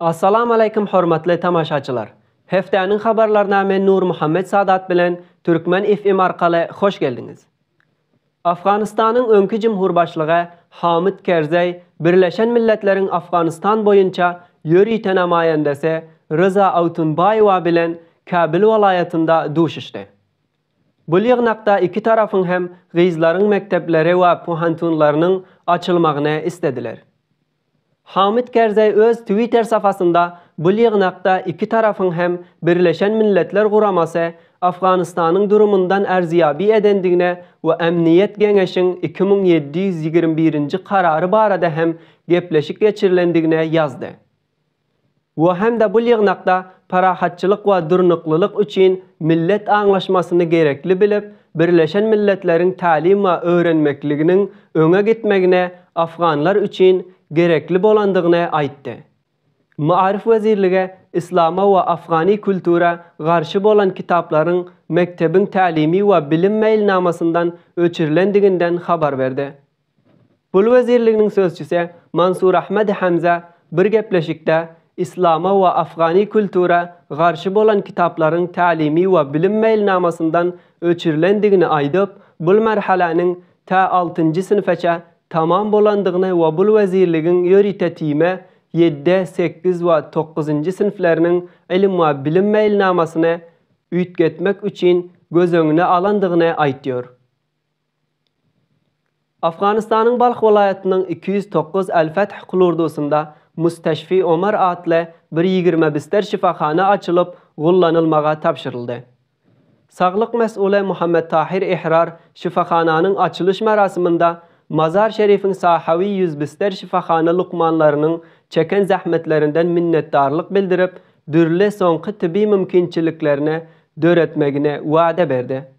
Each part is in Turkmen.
Assalamu aleýkum hormatly tamaşaçylar! Hepdäniň habarlaryna men Nurmuhammet Sadat bilen Türkmen FM arkaly hoş geldiňiz! Afganystanyň öňki jumhurbaşlygy Hamid Kerzeý Birleşen Milletleriň Afganystan boýunça ýörite namaýandasy Ryza Awtunbaýewa bilen Kabul welaýatynda duşuşdy. Bu ýygnakda iki tarapyň hem gyzlaryň mekdepleri we pohantunlarynyň açylmagyny islediler. Hamid Kerzeý öz Twitter sapasynda bu ýygnakda iki tarapyň hem Birleşen Milletler Guramasy Afganystanyň durumyndan arzyýabi edendigine we Emniýet Geňeşiň iki müň ýedi ýüz ýigrimi birinji karary barada hem gepleşik geçirilendigine ýazdy. we hem-de bu ýygnakda parahatçylyk we durnuklylyk üçin millet aňlaşmasyny gerekli bilip, Birleşen Milletleriň Tälim we öwrenmekliginiň öňe gitmegine afganlar üçin gerekli bolandygyny aýtdy. Maarif wezirligi yslama we afgany kultura garşy bolan kitaplaryň mekdebiň tälimi we bilim meýilnamasyndan öçürilendiginden habar berdi. Pul wezirliginiň sözçüsi Mansur Ahmad Hamza bir gepleşikde Islama we afgany kultura garşy bolan kitaplaryň Tälimi we bilim meýilnamasyndan öçürilendigini aýdyp, bul merheleniň tä altynjy synfeçe tamam bolandygyny we bul wezirligiň ýörite timi ýedi, sekiz we dokuzynjy synfleriniň ilim we bilim meýilnamasyny üýtgetmek üçin göz öňüne alandygyny aýtýar. Afganystanyň Balh welaýatynyň iki ýüz dokuz Al-Fath klurdusynda Mustaşfi Omar atly bir ýigrimi bister şypahana açylyp, gullanylmaga tabşyryldy. Saglyk mes'uly Muhammet Tahir Ehrar şypahananyň açylyş merasiminde Mazar Şerifiň Sahawi ýüz bister şypahana lukmanlarynyň çeken zähmetlerinden minnetdarlyk bildirip, dürli soňky tibi mümkinçiliklerini döretmegini wada berdi.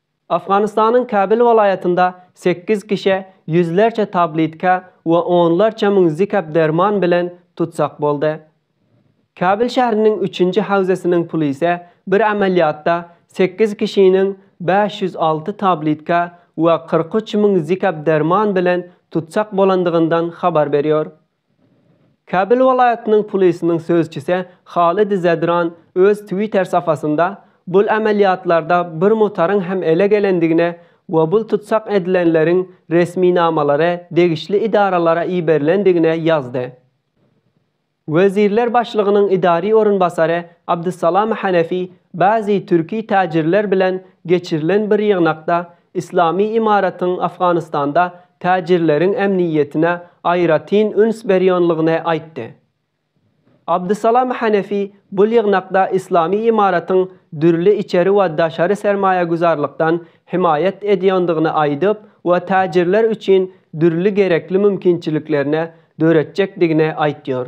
Afganystanyň Kabyl welaýatynda sekiz kişä ýüzlerçe tabletka we onlarça müň zikap derman bilen tutsag boldy. Kabyl şähriniň üçünji howzasynyň plise bir amelýatda sekiz kişiniň bäş ýüz alty tabletka we kyrk üç müň zikap derman bilen tutsag bolandygyndan habar berýär. Kabul welaýatynyň polisiniň sözçüsi Halid Zadran öz Twitter sapasynda bul amelýatlarda bir motaryň hem ele gelendigine we bul tutsag edilenleriň resminamalary degişli idaralara iberilendigine ýazdy. Wezirler başlygynyň idari orunbasary Abdussalam Hanefi bazi türki täjirler bilen geçirilen bir ýygnakda Yslamy ymaratyň Afganystanda täjirleriň ämniýetine aýratyn üns berýänligini aýtdy. Abdusalam Hanefi bu ýygnakda Yslamy ymaratyň dürli içeri we daşary sermaýagüzarlykdan hemaýat edýändigini aýdyp we täjirler üçin dürli gerekli mümkinçiliklerine döretjekdigini aýtýar.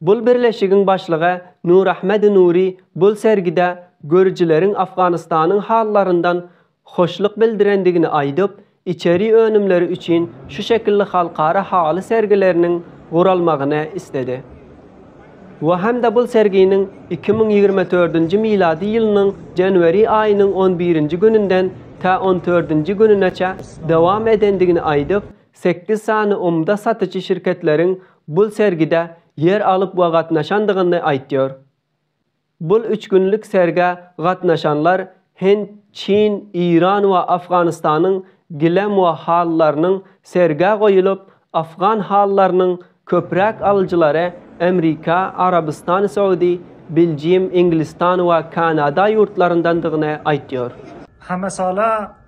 Bul birleşigiň başlygy Nurahmedi Nuri bul sergide görüjileriň Afganystanyň hallaryndan hoşluk bildirendigini aýdyp, içeri önümleri üçin şu şekilli halkara haly sergileriniň guralmagyny isledi we hem-de bul serginiň iki müň ýigrimi dördünji milady ýylynyň janwari aýynyň on birinji gününden tä on dördünji gününeçe dowam edendigini aýdyp, sekiz sany umda satyjy şirketleriň bul sergide ýer alyp we gatnaşandygyny aýtýar. Bul üç günlük sergä gatnaşanlar Hint, Çin, Eýran we Afganystanyň gilem we halylarynyň sergä goýulyp, afgan halylarynyň köpräk alyjylary Amrika, Arabystan Saudi, Biljim, Inglistan we Kanada ýurtlaryndandygyny aýtýar. Hamasala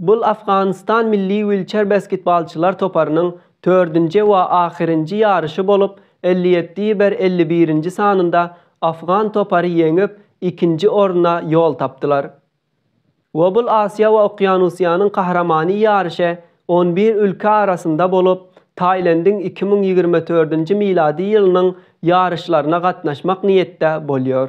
Bul Afganystan milli wilçer basketbalçylar toparynyň tördünje wa ahyrinji ýaryşy bolup elli ýetti ýber elli birinji sanynda afgan topary ýeňip ikinji orna ýol tapdylar wa bul Asiýa wa Okýanusiýanyň kahramany ýaryşy on bir ülke arasynda bolup Tailendiň iki müň ýigrimi tördünji milady ýylynyň ýaryşlaryna gatnaşmak niýetde bolýor.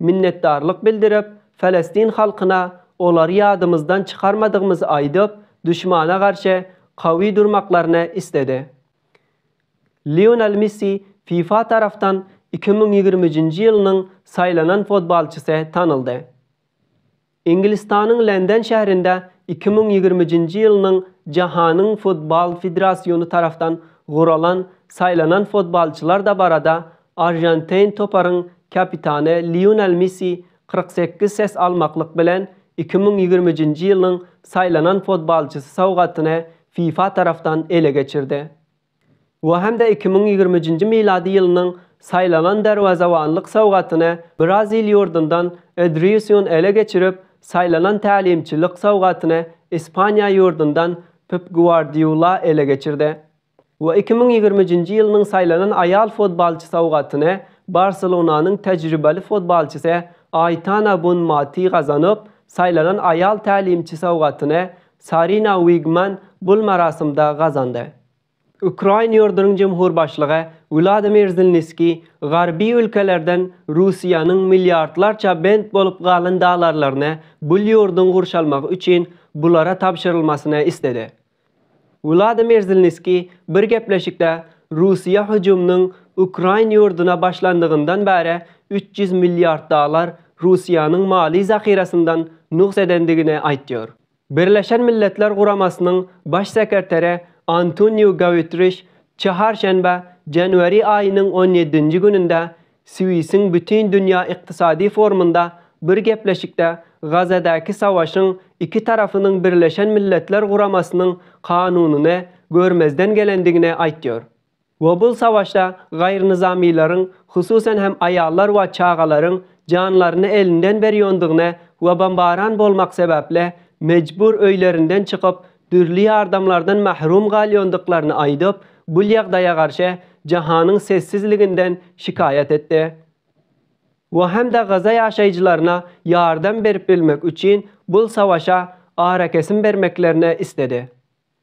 Minnetdarlyk bildirip, Falestin halkyna olary ýadymyzdan çykarmadygymyzy aýdyp, duşmana garşy kawy durmaklaryny isledi. Lionel Messi fifa tarapdan iki müň ýigrimi üçünji ýylynyň saýlanan fotbalçysy tanaldy. Iňgilistanyň Lenden şäherinde iki müň ýigrimijinji ýylynyň Jahanyň futbal federasiony tarapdan guralan saýlanan futbalçylar dabarada arjantein toparyň kapitany Lionel Messi kyrk sekiz ses almaklyk bilen iki müň ýigrimijinji ýylynyň saýlanan futbalçysy sowgatyny fifa tarapdan ele geçirdi. we hem-de iki müň ýigrimi üçünji milady ýylynyň Saýlanan derwezewanlyk sowgatyny Brazil ýurdundan Edrýusun ele geçirip, Saýlanan tälimçilik sowgatyny Ispaniýa ýurdundan Pep Guardiula ele geçirdi we iki müň ýigrimi üçünji ýylynyň Saýlanan aýal futbolçy sowgatyny Barselonanyň tejribeli futbolçysy Aýtana Bunmati gazanyp, Saýlanan aýal tälimçi sowgatyny Sarina Wigman gul marasymda gazandy. Ukrain ýurdunyň jemhurbaşlygy Wladimir Zelniskiý garby ülkelerden Russiýanyň milliardlarça bent bolup galan dalarlaryny gul ýurduň gurşalmagy üçin bulara tabşyrylmasyny isledi. Wladimir Zelniskiý bir gepleşikde Russiýa hüjüminiň Ukrain ýurduna başlandygyndan bäri üç ýüz milliard dalar Russiýanyň maly zahyrasyndan nugs edendigini aýtýar. Birleşen Milletler Guramasynyň Baş sekretary Antoniu Gautriş çaharşenbe, janwari aýynyň on ýedinji gününde Swisiň Bütindünýä ykdysady forumynda bir gepleşikde Gazadäki savaşyň iki tarapynyň Birleşen Milletler Guramasynyň kanunyny görmezden gelendigini aýtýar. We bul savaşda gaýrynyzamylaryň, hususan hem aýallar we çagalaryň janlaryny elinden berýondygyny we bombaran bolmak sebäpli mejbur öýlerinden çykyp, dürli ýardamlardan mahrum galýondyklaryny aýdyp, bul ýagdaýa garşy jahanyň sessizliginden şikaýat etdi. We hem-de Gaza ýaşaýjylaryna ýardam berip bilmek üçin bul savaşa arakesim bermeklerini isledi.